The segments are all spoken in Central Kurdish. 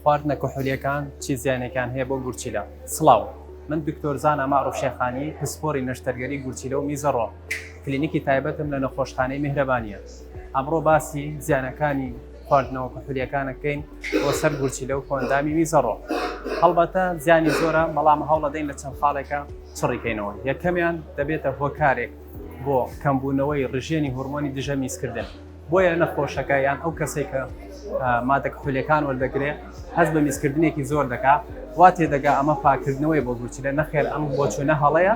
خواردنە کحولیەکان چی زیانێکیان هەیە بۆ گورچیلە؟ سڵاو. من دکتۆر زانا مەعروف شێخانی، پسپۆری نەشتەرگەری گورچیلە و میزە ڕۆم. کلینیکی تایبەتم لە نەخۆشخانەی میهرەبانییە. ئەمڕۆ باسی زیانەکانی خواردنەوە کحولیەکانەکەین بۆ سەر گورچیلە و کۆئەندامی میزە ڕۆم. هەڵبەتە زیانی زۆرە بەڵام هەوڵەدەین لە چەند خاڵێکا چڕی کەینەوە. یەکەمیان دەبێتە هۆکارێک بۆ کەمبوونەوەی ڕژێنی هۆرمۆنی دژە میزکردن. بۆیە نەخۆشەکە یان ئەو کەسێک کە مادە کحولەکان وەردەگرێ هەست بە میزکردنێکی زۆر دەکا وا تێدەگا ئەمە پاکردنەوەی بۆ گورچلە نەخێر ئەم بۆ چونە هەڵەیە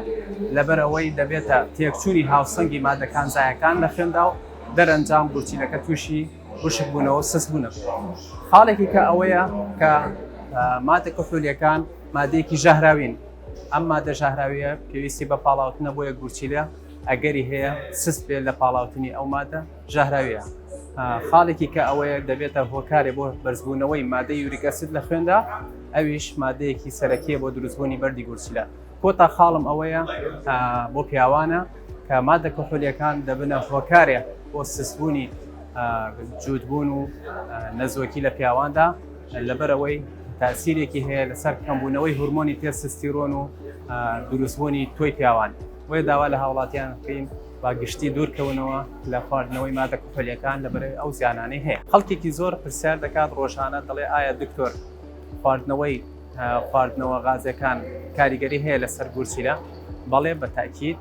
لەبەر ئەوەی دەبێتە تێکچووی هاوسەنگی مادەکان زایەکان لە خوێندا و دەرەنجام گورچیلەکە تووشی وشک بوونەوە سست بوونە خاڵێکی کە ئەوەیە کە مادە کحولیەکان مادەیەکی ژەهراوین ئەم مادە ژەهراویە پێویستی بە پاڵاوتنە بۆیە گورچیلە ئەگەری هەیە سست بێت لە پاڵاوتنی ئەو مادە ژەهراویە. خاڵێکی کە ئەوەیە دەبێتە هۆکارێ بۆ بەرزبوونەوەی مادەی یوریک ئەسید لە خوێندا، ئەویش مادەیەکی سەرەکیە بۆ دروستبوونی بەردی گورچیلە. کۆتا خاڵم ئەوەیە بۆ پیاوانە کە مادە کحولیەکان دەبنە هۆکارێ بۆ سستبوونی جووتبوون و نەزۆکی لە پیاواندا لەبەرئەوەی تاسیرێکی هەیە لەسەر کەمبوونەوەی هورمۆنی تێستستیرۆن و دروستبوونی تۆی پیاوان. بۆیە داوا لە هاوڵاتیان بکەین با گشتی دوور کەونەوە لە خواردنەوەی مادە کحولیەکان لە بەرەی ئەو زیانانەی هەیە خەڵکێکی زۆر پرسیار دەکات ڕۆژانە دەڵێ ئایا دکتۆر خواردنەوەی خواردنەوە غازەکان کاریگەری هەیە لەسەر گورچیلە بەڵێ بە تاکیید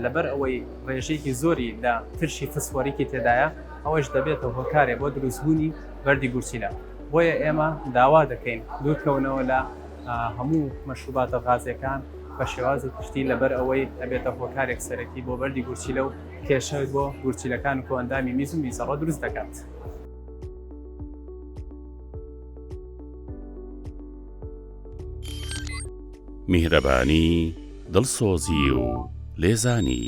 لەبەر ئەوەی ڕێژێکی زۆری لە ترشی فسفۆریکی تێدایە ئەوەش دەبێتە هۆکارێ بۆ دروستبوونی بەردی گورچیلە بۆیە ئێمە داوا دەکەین دوورکەونەوە لە هەموو مەشروباتە غازیەکان بە شێوازی پشتی لەبەر ئەوەی ئەبێتە هۆکارێک سەرەکی بۆ بەردی گورچیلە و کێشە بۆ گورچیلەکان و کۆئەندامی میز و میزەڕە دروست دەکات. میهرەبانی دڵسۆزی و لێزانی